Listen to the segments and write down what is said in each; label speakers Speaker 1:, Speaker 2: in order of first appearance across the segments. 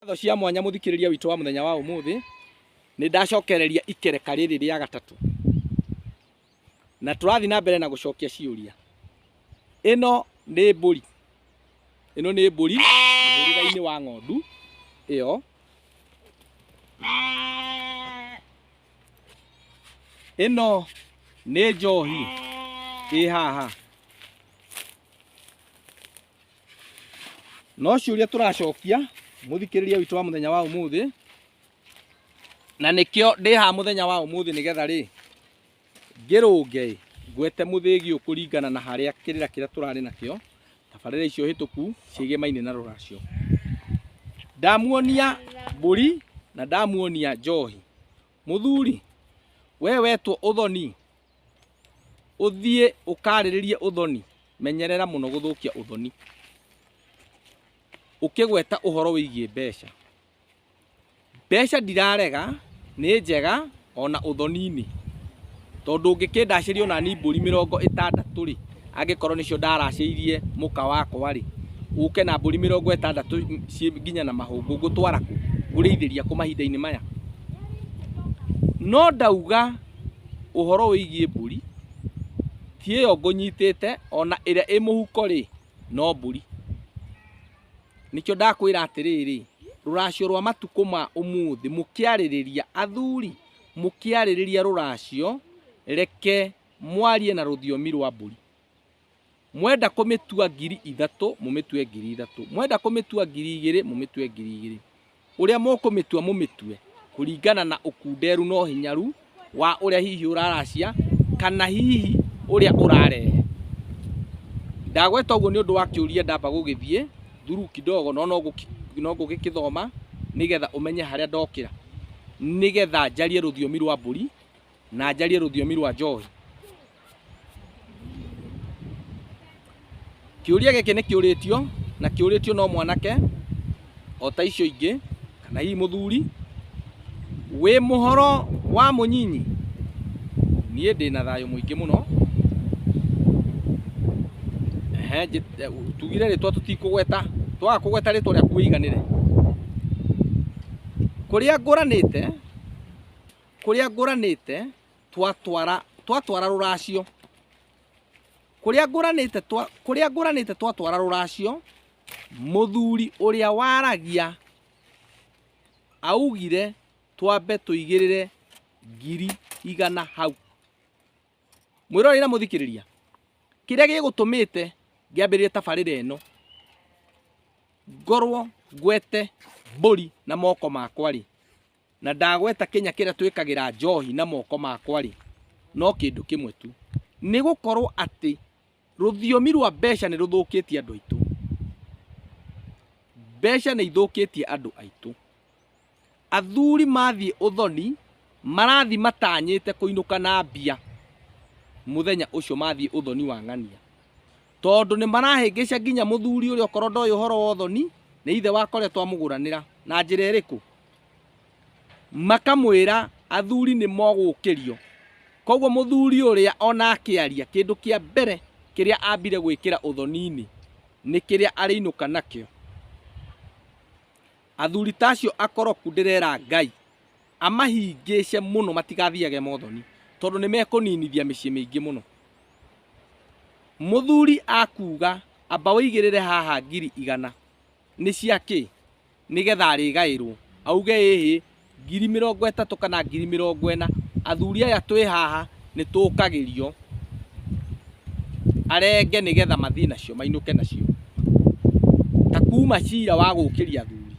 Speaker 1: Ngatho cia mwanya mũthikĩrĩria witũ wa mũthenya wa ũmũthĩ, nĩ ndacokereria ikereka rĩrĩ rĩa gatatũ, na tũrathiĩ na mbere na gũcokia ciũria. Ĩno nĩ mbũri, ĩno nĩ mbũri mũhĩrĩga-inĩ wa ng'ondu ĩyo. Ĩno nĩ njohi ĩ haha. no ciũria tũracokia mũthikĩrĩria witũ wa mũthenya wa ũmũthĩ na nĩkĩo ndĩ ha mũthenya wa ũmũthĩ nĩgetha rĩ ngĩrũnge ĩ, ngwete mũthĩgi ũkũringana na harĩa kĩrĩra kĩrĩa tũrarĩ nakĩo tabarĩra icio hĩtũku ciĩgiĩ mainĩ na rũracio ndamuonia mbũri na ndamuonia njohi mũthuri we wetwo ũthoni ũthiĩ ũkarĩrĩrie ũthoni menyerera mũno gũthũkia ũthoni ũkĩgweta ũhoro wĩgiĩ mbeca mbeca ndirarega nĩ njega ona ũthoni-inĩ tondũ ũngĩkĩndacĩria ona ni mbũri mĩrongo ĩtandatũ rĩ angĩkorwo nĩcio ndaracĩirie mũka wakwa rĩ ũke na mbũri mĩrongo ĩtandatũ ciĩ nginya na mahũngũ ngũtwara kũ? ngũrĩithĩria kũ mahinda-inĩ maya no ndauga ũhoro wĩgiĩ mbũri, ti ĩyo ngũnyitĩte, ona ĩrĩa ĩ mũhuko rĩ, no mbũri. Nĩkĩo ndakwĩra atĩrĩrĩ, rũracio rwa matukũ ma ũmũthĩ mũkĩarĩrĩria, athuri mũkĩarĩrĩria rũracio, reke mwarie na rũthiomi rwa mbũri. Mwenda kũmĩtua ngiri ithatũ, mũmĩtue ngiri ithatũ. Mwenda kũmĩtua ngiri igĩrĩ, mũmĩtue ngiri igĩrĩ. Ũrĩa mũkũmĩtua mũmĩtue kũringana na ũkunderu na ũhinyaru wa ũrĩa hihi ũraracia kana hihi ũrĩa ũrarehe. Ndagweta ũguo nĩ ũndũ wa kĩũria ndamba gũgĩthiĩ thuru kidogo no no ngũgĩkĩthoma nĩgetha ũmenye harĩa ndokĩra, nĩgetha njarie rũthiomi rwa mbũri. na njarie rũthiomi rwa njohi. Kĩũria gĩkĩ nĩ kĩũrĩtio na kĩũrĩtio no mwanake o ta icio ingĩ kana hihi mũthuri wĩ mũhoro wa mũnyinyi niĩ ndĩ na thayũ mũingĩ mũno Ehe, njĩ- eh, tugire rĩtwa tũtikũgweta twaga kũgweta rĩtwa rĩaku wĩiganĩre kũrĩa ngũranĩte kũrĩa ngũranĩte twatwara twatwara rũracio kũrĩa ngũranĩte twa kũrĩa ngũranĩte twatwara rũracio mũthuri ũrĩa waragia augire twambe tũigĩrĩre ngiri igana hau mwĩrorei na mũthikĩrĩria kĩrĩa gĩgũtũmĩte ngĩambĩrĩria tabarĩra ĩno ngorwo ngwete mbũri na moko makwa rĩ Na ndagweta kĩnya kĩrĩa twĩkagĩra njohi na moko makwa-rĩ, no kĩndũ kĩmwe tu, nĩ gũkorwo atĩ rũthiomi rwa mbeca nĩ rũthũkĩtie andũ aitũ. Mbeca nĩ ithũkĩtie andũ aitũ. Athuri mathiĩ ũthoni, marathiĩ matanyĩte kũinũka na mbia mũthenya ũcio mathiĩ ũthoni wa ng'ania. Tondũ nĩ marahĩngĩca nginya mũthuri ũrĩa okorwo ndoĩ ũhoro wa ũthoni nĩ ithe wakwa ũrĩa twamũgũranĩra na njĩra ĩrĩkũ makamwĩra athuri nĩ mogũkĩrio koguo mũthuri ũrĩa ona akĩaria kĩndũ kĩa mbere kĩrĩa ambire gwĩkĩra ũthoni-inĩ nĩ kĩrĩa arĩinũka nakĩo Athuri ta acio akoroku ndĩrera Ngai amahingĩce mũno matigathiage mothoni tondũ nĩ mekũninithia mĩciĩ mĩingĩ mũno. Mũthuri akuga amba ũigĩrĩre haha ngiri igana nĩ cia kĩ nĩgetha arĩgaĩrwo auge ĩhĩ ngiri mĩrongo ĩtatũ kana ngiri mĩrongo ĩna athuri aya twĩ haha nĩ tũkagĩrio arenge nĩ getha mathiĩ nacio mainũke nacio ta kuma cira wa gũkĩria athuri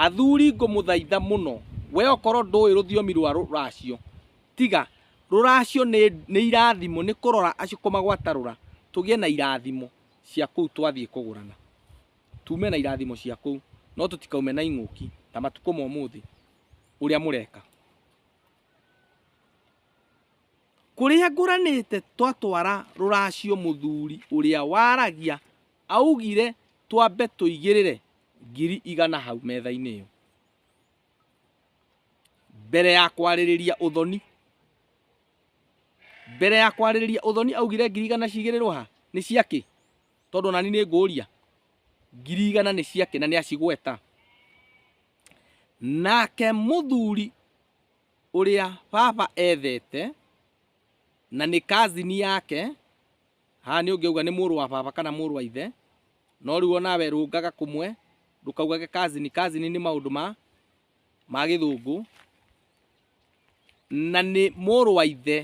Speaker 1: athuri ngũmũthaitha mũno we okorwo ndũĩ rũthiomi rwa rũracio tiga rũracio nĩ irathimo nĩ kũrora acio kũmagwatarũra tũgĩe na irathimo cia kũu twathiĩ kũgũrana Tuume na irathimo cia kũu, no tũtikaume na ing'ũki ta matukũ ma ũmũthĩ ũrĩa mũreka. Kũrĩa ngũranĩte twatwara rũracio mũthuri ũrĩa waragia augire twambe tũigĩrĩre ngiri igana hau metha-inĩ ĩyo. Mbere ya kwarĩrĩria ũthoni, mbere ya kwarĩrĩria ũthoni augire ngiri igana cigĩrĩrwo ha? Nĩ cia kĩ? tondũ nani nĩ ngũria ngiri igana nĩ ciake na nĩ acigweta nake mũthuri ũrĩa baba ethete na nĩ kazini yake haha nĩ ũngĩuga nĩ mũrũ wa baba kana mũrũ wa ithe no rĩu onawe rũngaga kũmwe ndũkaugage kazini kazini nĩ maũndũ ma ma gĩthũngũ na nĩ mũrũ wa ithe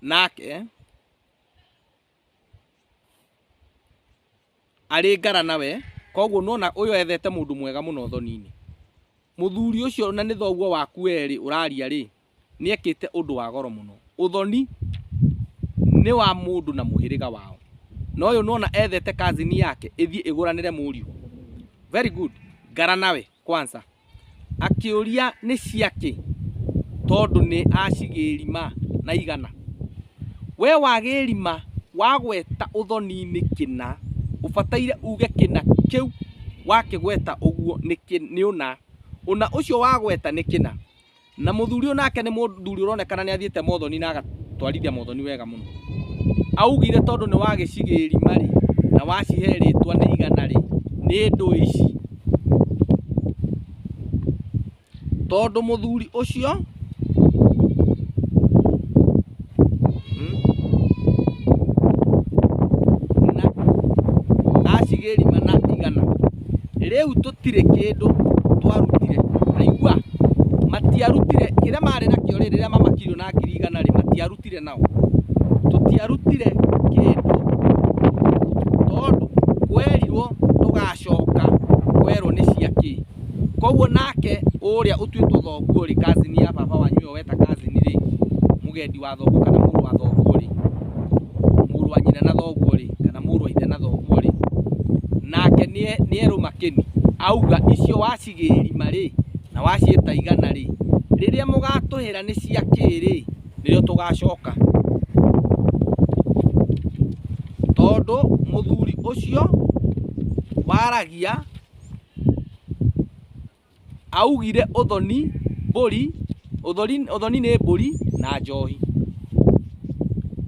Speaker 1: nake arĩ ngara nawe koguo nona ũyũ ethete mũndũ mwega mũno thoni-inĩ mũthuri ũcio na nĩ thoguo waku werĩ ũraria rĩ nĩ ekĩte ũndũ wa goro mũno ũthoni nĩ wa mũndũ na mũhĩrĩga wao na ũyũ nona ethete kazini yake ĩthiĩ ĩgũranĩre mũriũ very good ngara nawe kwanza akĩũria nĩ ciakĩ tondũ nĩ acigĩrima na igana we wagĩrima wagweta ũthoni-inĩ kĩna ũbataire uge kĩna kĩu wakĩgweta ũguo nĩ ũna, ũna ũcio wagweta nĩ kĩna Na mũthuri ũyũ nake nĩ mũthuri ũronekana nĩ athiĩte mothoni na agatwarithia mothoni wega mũno. Augire tondũ nĩ wagĩcigĩrĩ marĩ na wacihe rĩtwa nĩ igana rĩ nĩ ndũĩ ici. Tondũ mũthuri ũcio rĩu tũtirĩ kĩndũ twarutire aigua matiarutire kĩrĩa marĩ nakĩo rĩ rĩrĩa mamakirio na ngiri igana rĩ matiarutire nao tũtiarutire kĩndũ tondũ kwerirwo tũgacoka kwerwo nĩ cia kĩ koguo nake ũrĩa ũtuĩtwo thoguo rĩ kazini ya baba wanyu ĩyo weta kazini rĩ mũgendi wa thoguo kana mũrũ wa thoguo rĩ mũrũ wa nyina na thoguo rĩ kana mũrũ wa ithe na thoguo rĩ nake nĩe- nĩerũ makĩni auga icio wacigĩrima rĩ na waciĩta igana rĩ rĩrĩa mũgatũhĩra nĩ cia kĩrĩ nĩrĩo tũgacoka tondũ mũthuri ũcio waragia Augire ũthoni mbũri, ũthori, ũthoni nĩ mbũri na njohi.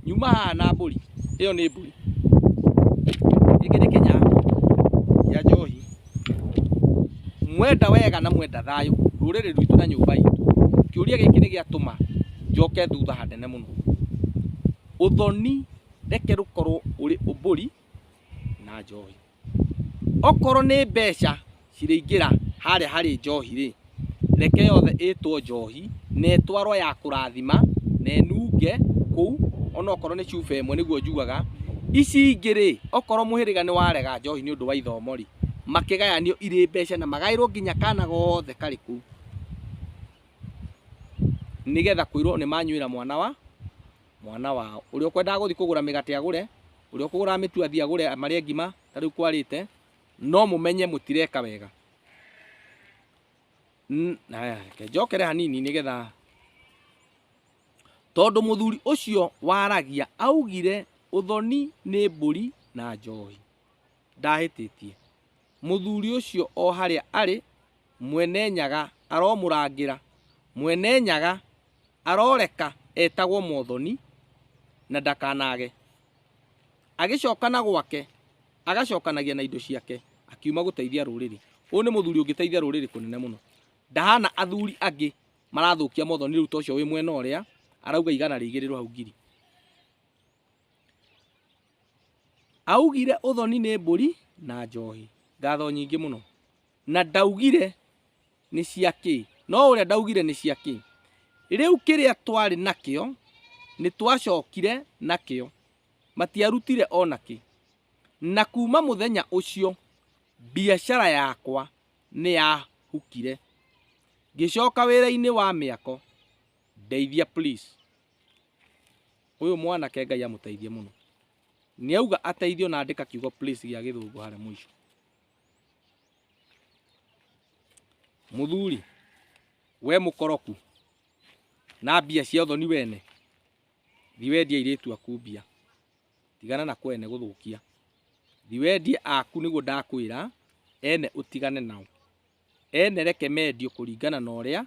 Speaker 1: Nyuma haha na mbũri, ĩyo nĩ mbũri. Gĩkĩ nĩ kĩnya kĩa njohi. Mwenda wega na mwenda thayũ, rũrĩrĩ rwitũ na nyũmba itũ. Kĩũria gĩkĩ nĩ gĩatũma njoke thutha hanene mũno. Ũthoni reke rũkorwo ũrĩ mbũri. na njohi okorwo nĩ mbeca cirĩingĩra harĩa harĩ njohi rĩ reke yothe ĩtwo njohi na ĩtwarwo ya kũrathima na ĩnunge kũu onokorwo nĩ cuba ĩmwe nĩguo njugaga ici ingĩ rĩ okorwo mũhĩrĩga nĩ warega njohi nĩ ũndũ wa ithomo rĩ makĩgayanio irĩ mbeca na magaĩrwo nginya kana gothe karĩ kũu nĩgetha kwĩrwo nĩ manyuĩra mwana wa mwana wao. Ũrĩa ũkwendaga gũthiĩ kũgũra mĩgate agũre, ũrĩa ũkũgũraga mĩtu athiĩ agũre marĩe ngima, ta rĩu kwarĩte, no mũmenye mũtireka wega. N- Haya, reke njokere hanini nĩgetha tondũ mũthuri ũcio waragia augire ũthoni nĩ mbũri na njohi ndahĩtĩtie mũthuri ũcio o harĩa arĩ mwene nyaga aromũrangĩra mwene nyaga Aroreka etagwo Mothoni, na ndakanaage. Agĩcokana gwake, agacokanagia na indo ciake, akiuma gũteithia rũrĩrĩ. Ũyũ nĩ mũthuri ũngĩteithia rũrĩrĩ kũnene mũno. Ndahana athuri angĩ marathũkia Mothoni rĩu ta ũcio wĩ mwena ũrĩa, arauga igana rĩigĩrĩrwo hau ngiri. Augire ũthoni nĩ mbũri na njohi. Ngatho nyingĩ mũno. Na ndaugire nĩ cia kĩ? No ũrĩa ndaugire nĩ cia kĩ? Rĩu kĩrĩa twarĩ nakĩo nĩ twacokire nakĩo, matiarutire o na kĩ. Na kuuma mũthenya ũcio biacara yakwa nĩ yahukire. Ngĩcoka wĩra-inĩ wa mĩako. Ndeithia please. Ũyũ mwanake Ngai amũteithie mũno. Nĩ auga ateithio na andĩka kiugo please gĩa gĩthũngũ harĩa mũico. Mũthuri, we mũkoroku, na mbia cia ũthoni wene, thi wendie airĩtu aku mbia. Tigana na kwene gũthũkia. Thi wendie aku nĩguo ndakwĩra, ene ũtigane nao. Ene reke mendio kũringana na ũrĩa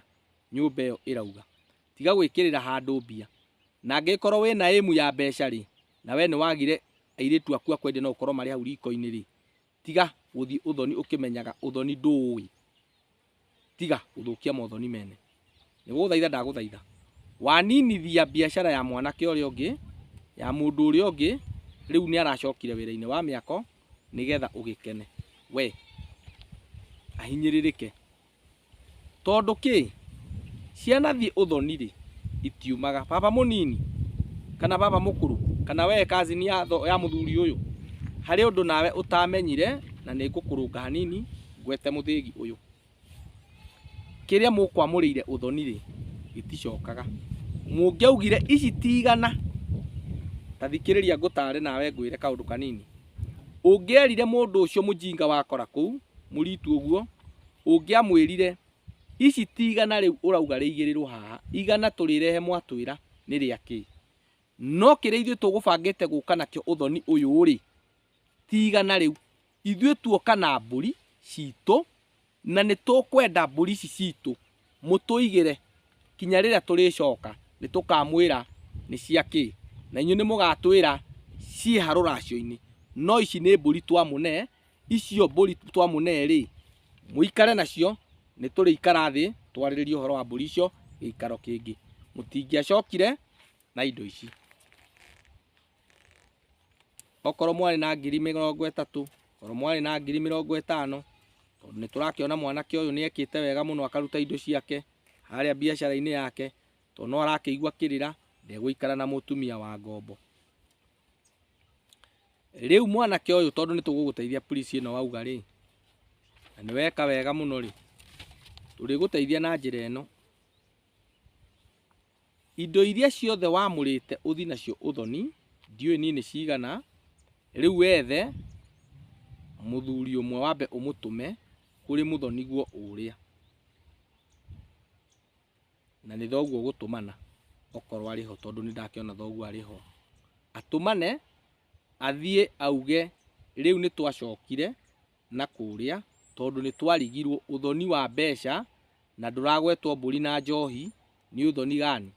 Speaker 1: nyũmba ĩyo ĩrauga. Tiga gwĩkĩrĩra handũ mbia. Na angĩkorwo wĩna ĩmu ya mbeca-rĩ, na we nĩwagire airĩtu aku a kwendia no ũkorwo marĩ hau riko-inĩ-rĩ, Tiga gũthiĩ ũthoni ũkĩmenyaga ũthoni ndũũĩ. Tiga gũthũkia mothoni mene. Nĩgũgũthaitha ndagũthaitha. Waninithia biacara ya mwanake ũrĩa ũngĩ, ya mũndũ ũrĩa ũngĩ, rĩu nĩaracokire wĩra-inĩ wa mĩako nĩgetha ũgĩkene. We ahinyĩrĩrĩke. Tondũ kĩ? Ciana thiĩ ũthoni rĩ, itiumaga. Baba mũnini, kana baba mũkũrũ, kana wee cousin ya tho, ya mũthuri ũyũ, harĩ ũndũ nawe ũtamenyire, na nĩ ngũkũrũnga hanini, ngwete mũthĩgi ũyũ. Kĩrĩa mũkwamũrĩire ũthoni rĩ, gĩticokaga. Mũngĩaugire ici ti igana, ta thikĩrĩria ngũtare nawe ngwĩre kaũndũ kanini. Ũngĩerire mũndũ ũcio mũjinga wakora kũu, mũritu ũguo, ũngĩamwĩrire, ici ti igana rĩu ũrauga rĩigĩrĩrwo haha, igana tũrĩrehe mwatwĩra nĩ rĩa kĩ? No kĩrĩa ithuĩ tũgũbangĩte gũka nakĩo ũthoni ũyũ-rĩ, ti igana rĩu. Ithuĩ tuoka na mbũri citũ, Na nĩ tũkwenda mbũri ici citũ mũtũigĩre kinya rĩrĩa tũrĩcoka, nĩ tũkamwĩra nĩ cia kĩ, na inyuĩ nĩ mũgatwĩra ciĩ ha rũracio-inĩ. No ici nĩ mbũri twamũne, icio mbũri twamũne-rĩ, mũikare nacio, nĩ tũrĩikara thĩ twarĩrĩrie ũhoro wa mbũri icio gĩikaro kĩngĩ. Mũtingĩacokire na indo ici. okorwo mwarĩ na ngiri mĩrongo ĩtatũ okorwo mwarĩ na ngiri mĩrongo ĩtano tondũ nĩ tũrakĩona mwanake ũyũ nĩ ekĩte wega mũno akaruta indo ciake harĩa biacara-inĩ yake tondũ no arakĩigua kĩrĩra ndegũikara na mũtumia wa ngombo rĩu mwanake ũyũ tondũ nĩ tũgũgũteithia police ĩno wauga rĩ na nĩ weka wega mũno rĩ tũrĩgũteithia na njĩra ĩno Indo iria ciothe wamũrĩte ũthi nacio ũthoni, ndiũĩ niĩ nĩ cigana, rĩu wethe mũthuri ũmwe wambe ũmũtũme kũrĩ mũthoniguo ũrĩa, na nĩ thoguo ũgũtũmana okorwo arĩ ho, tondũ nĩ ndakĩona thoguo arĩ ho, atũmane. athiĩ auge rĩu nĩ twacokire na kũrĩa tondũ nĩ twarigirwo. Ũthoni wa mbeca na ndũragwetwo mbũri na njohi nĩ ũthoni gani?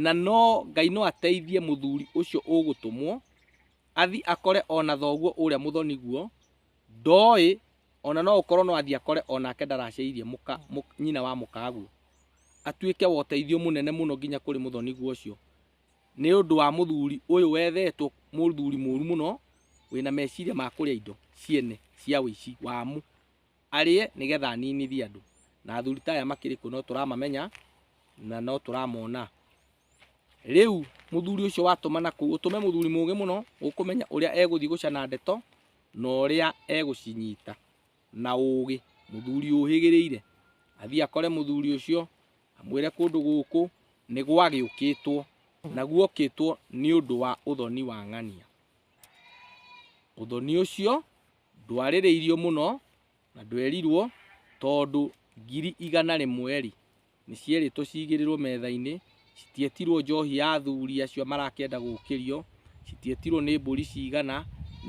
Speaker 1: Na no Ngai no ateithie mũthuri ũcio ũgũtũmwo athiĩ akore ona thoguo ũrĩa mũthoni guo, ndoĩ ona no ũkorwo no athiĩ akore onake ndaraciaithia mũka, mũka, nyina wa mũkaguo, atuĩke wa ũteithio mũnene mũno nginya kũrĩ mũthoni guo ũcio. nĩ ũndũ wa mũthuri ũyũ wethetwo mũthuri mũru mũno wĩna meciria ma kũrĩa indo ciene cia ũici wamu arĩe nĩgetha aninithie andũ. Na athuri ta aya makĩrĩ kũ no tũramamenya na no tũramona. Rĩu mũthuri ũcio watũmana kũu ũtũme mũthuri mũgĩ mũno ũkũmenya ũrĩa egũthiĩ gũcana ndeto na ũrĩa egũcinyita. na ũũgĩ mũthuri ũhĩgĩrĩire athiĩ akore mũthuri ũcio amwĩre kũndũ gũkũ nĩ gwagĩũkĩtwo na guokĩtwo nĩ ũndũ wa ũthoni wa ng'ania ũthoni ũcio ndwarĩrĩirio mũno na ndwerirwo tondũ ngiri igana rĩmwe rĩ Nĩ cierĩtwo ciigĩrĩrwo metha-inĩ, citietirwo njohi ya athuri acio marakĩenda gũkĩrio, citietirwo nĩ mbũri cigana,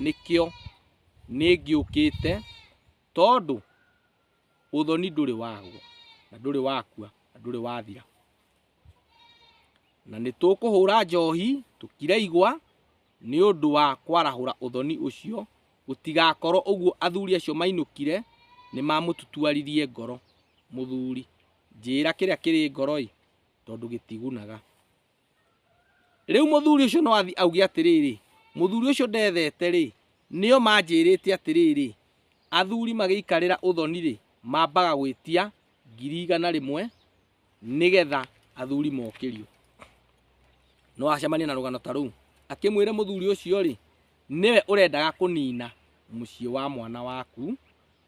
Speaker 1: nĩkĩo nĩngĩũkĩte tondũ ũthoni ndũrĩ wagwo, na ndũrĩ wakua, na ndũrĩ wathira. Na nĩtũkũhũra njohi, tũkire igwa. Nĩ ũndũ wa kwarahũra ũthoni ũcio, gũtigakorũo ũguo athuri acio mainũkire nĩ maamũtutuaririe ngoro. Mũthuri, njĩĩra kĩrĩa kĩrĩ ngoro-ĩ, tondũ gĩtigunaga. Rĩu mũthuri ũcio no athiĩ auge atĩrĩrĩ, mũthuri ũcio ndethete-rĩ, nĩo manjĩĩrĩte atĩrĩrĩ, athuri magĩikarĩra ũthoni-rĩ, mambaga gwĩtia ngiri igana rĩmwe nĩgetha athuri mokĩrio no acemania na rũgano ta rũu akĩmwĩre mũthuri ũcio rĩ nĩwe ũrendaga kũnina mũciĩ wa mwana waku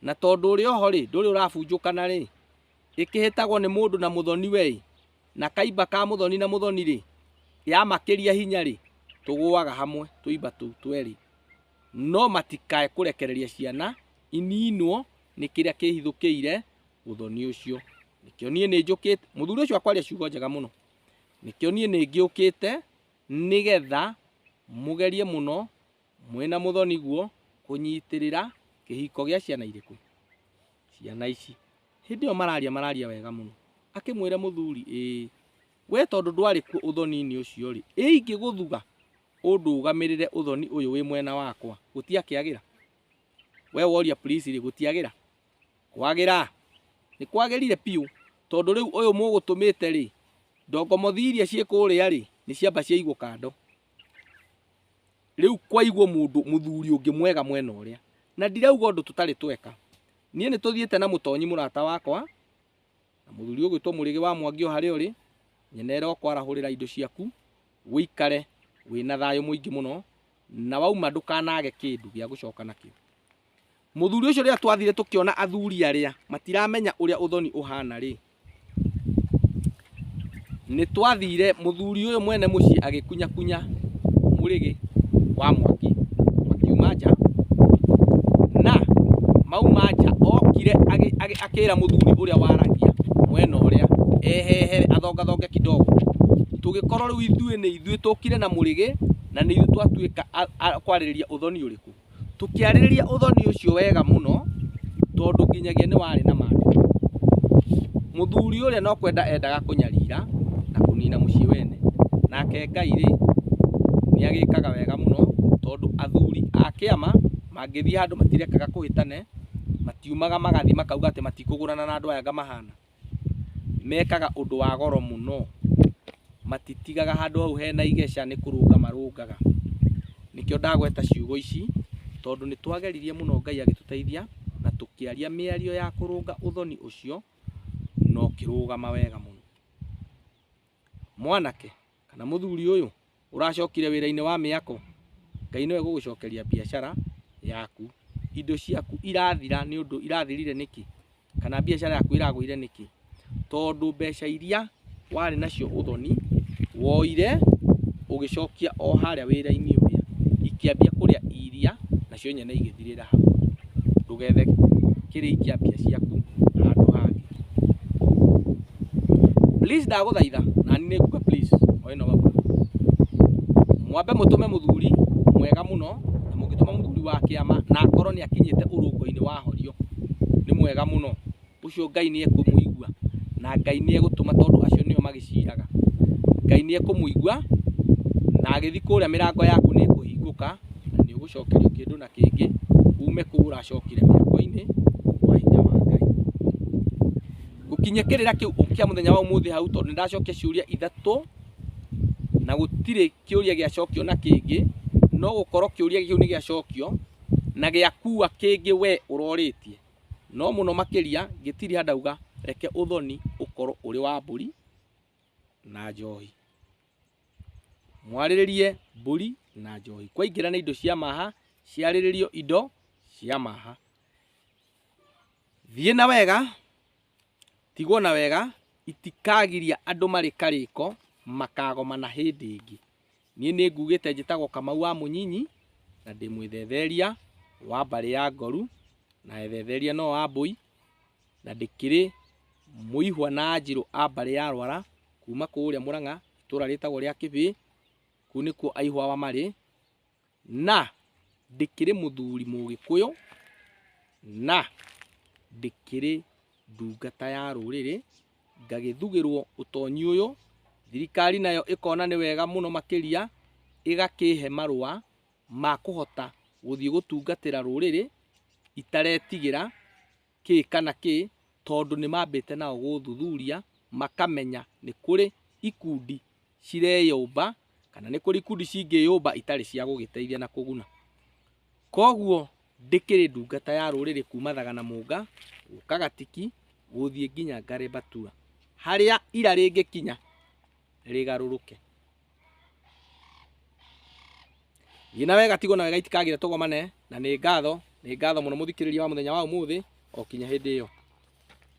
Speaker 1: na tondũ ũrĩ oho rĩ ndũrĩ ũrabunjũkana rĩ ĩkĩhĩtagwo nĩ mũndũ na mũthoni we na kaimba ka mũthoni na mũthoni rĩ ya makĩria hinya rĩ tũgũaga hamwe tũimba tũu twerĩ no matikae kũrekereria ciana ininwo nĩ kĩrĩa kĩhithũkĩire ũthoni ũcio nĩkĩo niĩ nĩ njũkĩte mũthuri ũcio akwaria ciugo njega mũno nĩkĩo niĩ nĩ ngĩũkĩte nĩgetha mũgerie mũno mwĩna mũthoni guo kũnyitĩrĩra kĩhiko gĩa ciana irĩkũ ciana ici hĩndĩ ĩyo mararia mararia wega mũno akĩmwĩra mũthuri ĩĩ we tondũ ndwarĩ kuo ũthoni-inĩ ũcio rĩ ĩ ingĩgũthuga ũndũgamĩrĩre ũthoni ũyũ wĩ mwena wakwa gũtiakĩagĩra we woria please rĩ gũtiagĩra Kwagĩra? Nĩ kwagĩrire biũ, tondũ rĩu ũyũ mũgũtũmĩte-rĩ, ndongomothi iria ciĩ kũrĩa-rĩ, nĩ ciamba ciaigwo kando. Rĩu kwaigwo mũndũ mũthuri ũngĩ mwega mwena ũrĩa. Na ndirauga ũndũ tũtarĩ tweka. Niĩ nĩ tũthiĩte na Mũtonyi mũrata wakwa, na mũthuri ũgwĩtwo Mũrĩgĩ wa Mwangi o harĩa ũrĩ, nyene ĩra ũkwarahũrĩra indo ciaku, ũikare wĩna thayũ mũingĩ mũno, na wauma ndũkanage kĩndũ gĩa gũcoka nakĩo. Mũthuri ũcio rĩrĩa twathire tũkĩona athuri arĩa matiramenya ũrĩa ũthoni ũhana rĩ, nĩ twathire mũthuri ũyũ mwene mũciĩ agĩkunyakunya mũrĩgĩ wa mwaki makiuma nja na mauma nja okire akĩra mũthuri ũrĩa waragia mwena ũrĩa ehehere athongathonge kidogo tũgĩkorwo rĩu ithuĩ nĩ ithuĩ tũkire na mũrĩgĩ na nĩ ithuĩ twatuĩka kwarĩrĩria ũthoni ũrĩkũ tũkĩarĩrĩria ũthoni ũcio wega mũno tondũ nginyagia nĩ warĩ na maandĩko. Mũthuri ũrĩa no kwenda endaga kũnyarira na kũnina mũciĩ wene, nake Ngai-rĩ nĩ agĩkaga wega mũno tondũ athuri a kĩama mangĩthiĩ handũ matirekaga kũhĩtane, matiumaga magathiĩ makauga atĩ matikũgũrana na andũ aya ngamahana. mekaga ũndũ wa goro mũno, matitigaga handũ hau hena igeca nĩ kũrũnga marũngaga. Nĩkĩo ndagweta ciugo ici tondũ nĩ twageririe mũno Ngai agĩtũteithia na tũkĩaria mĩario ya kũrũnga ũthoni ũcio na ũkĩrũgama wega mũno. Mwanake kana mũthuri ũyũ ũracokire wĩra-inĩ wa mĩako, Ngai no egũgũcokeria biacara yaku. Indo ciaku irathira nĩ ũndũ irathirire nĩkĩ? Kana biacara yaku ĩragũire nĩkĩ? Tondũ mbeca iria warĩ nacio ũthoni woire ũgĩcokia o harĩa wĩra-inĩ ũrĩa, ikĩambia kũrĩa iria nacio nyene igĩthirĩra hau. ndũgethe kĩrĩi kĩa mbia ciaku handũ hangĩ please ndagũthaitha na nĩ nguga please o ĩno wagura mwambe mũtũme mũthuri mwega mũno na mũngĩtũma mũthuri wa kĩama na akorwo nĩ akinyĩte ũrũngo-inĩ wa horio nĩ mwega mũno ũcio Ngai nĩ ekũmũigua na Ngai nĩ egũtũma tondũ acio nĩo magĩciraga. Ngai nĩ ekũmũigua na agĩthiĩ kũrĩa mĩrango yaku nĩ ĩkũhingũka na nĩ ũgũcokerio kĩndũ na kĩngĩ ume kũu ũracokire mĩako-inĩ kwa hinya wa Ngai. Gũkinyia kĩrĩra kĩu kĩa mũthenya wa ũmũthĩ hau tondũ nĩ ndacokia ciũria ithatũ na gũtirĩ kĩũria gĩacokio na kĩngĩ, no gũkorwo kĩũria kĩu nĩ gĩacokio na gĩakua kĩngĩ we ũrorĩtie. no mũno makĩria Gĩtiria ndauga reke ũthoni ũkorwo ũrĩ wa mbũri na njohi. Mwarĩrĩrie mbũri na njohi. Kwaingĩra nĩ indo cia maha, ciarĩrĩrio indo cia maha. Thiĩ na wega, tigwo na wega, itikagiria andũ marĩ karĩko, makagomana hĩndĩ ĩngĩ. Niĩ nĩ ngugĩte njĩtagwo Kamau wa Mũnyinyi na ndĩ mwĩthetheria wa mbarĩ ya Ngoru na ethetheria no wa Mbũi na ndĩkĩrĩ mũihwa na Anjirũ a mbarĩ ya Rwara kuma kũrĩa Mũrang'a itũra rĩtagwo rĩa Kĩbĩĩ, kũu nĩkuo aihwawa marĩ Na ndĩkĩrĩ mũthuri Mũgĩkũyũ, na ndĩkĩrĩ ndungata ya rũrĩrĩ, ngagĩthugĩrwo ũtonyi ũyũ, thirikari nayo ĩkona nĩ wega mũno makĩria ĩgakĩhe marũa ma kũhota gũthiĩ gũtungatĩra rũrĩrĩ itaretigĩra, kĩ kana kĩ tondũ nĩ mambĩte nao gũthuthuria makamenya nĩ kũrĩ ikundi cireyũmba kana nĩ kũrĩ ikundi cingĩyũmba itarĩ cia gũgĩteithia na kũguna. Koguo ndĩkĩrĩ ndungata ya rũrĩrĩ kuma thaga na mũnga gũka gatiki gũthiĩ nginya ngarĩ mbatua harĩa ira rĩngĩkinya rĩgarũrũke. Gina wega tigo na wega itikagire togomane na nĩ ngatho nĩ ngatho mũno mũthikĩrĩria wa mũthenya wa ũmũthĩ o kinya hĩndĩ ĩyo.